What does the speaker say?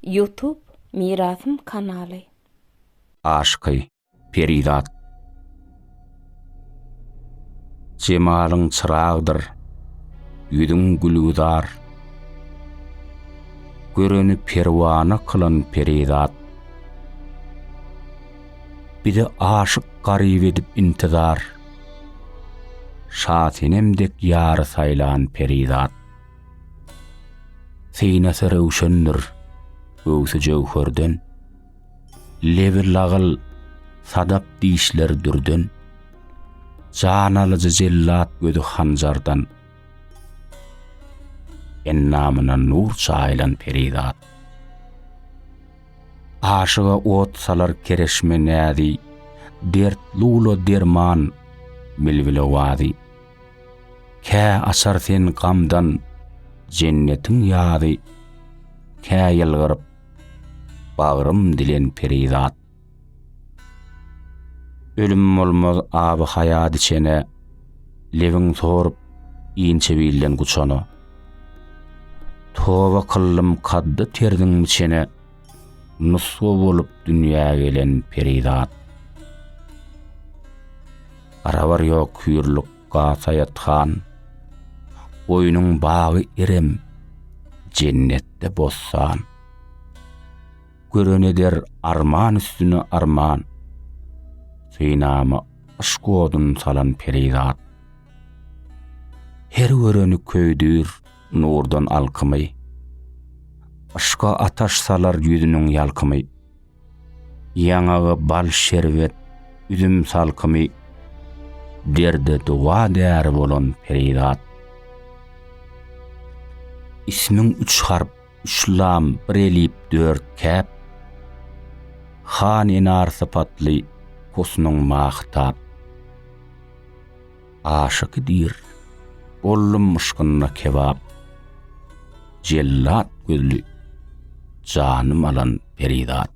Ýutub Mirasym kanaly. Aşyky, perizat. Jemalyň çyragdyr, ýüzüň gülgüzar. Göreni perwana kylan perizat. Bize aşyk garyp edip intizar. Şasenem dek ýary saýlan perizat. Synasy röwşendir, göwsi jöwherden, Lebi lagyl, sadap dişler dürden, Jan alyjy jellat gözi hanjardan, Endamyna nur çaýylan perizat. Aşyga ot salar kereşme näzi, Dert lula derman, bilbile wazy. Kä açar sen gamdan jennetiň ýazy, Kä ýylgyryp, bagrym dilen perizat. Ölüm bolmaz aby haýat içene, Lebin sorup, inçe bilden guçana. Toba kyldym kaddy terziň içene, Nusga bolup dünýä gelen perizat. Arabar ýok hüýrlük gata ýatgan, Goýnuň bagy irem, jennetde bossan. Gören eder arman üstüne arman, Synama yşk odun salan perizat. Her göreni köýdür nurdan alkymy, Yşka ataş salar ýüzüniň ýalkymy. Ýaňagy bal şerbet, üzüm salkymy, derde dowa däri bolan perizat. Ismiň üç harp, üç lam, bir elip, dört käp. Han enar sypatly, husnuň mahytap. aşa gidir. Boldum yşkynda kebap. Jellat gözli janym alan perizat.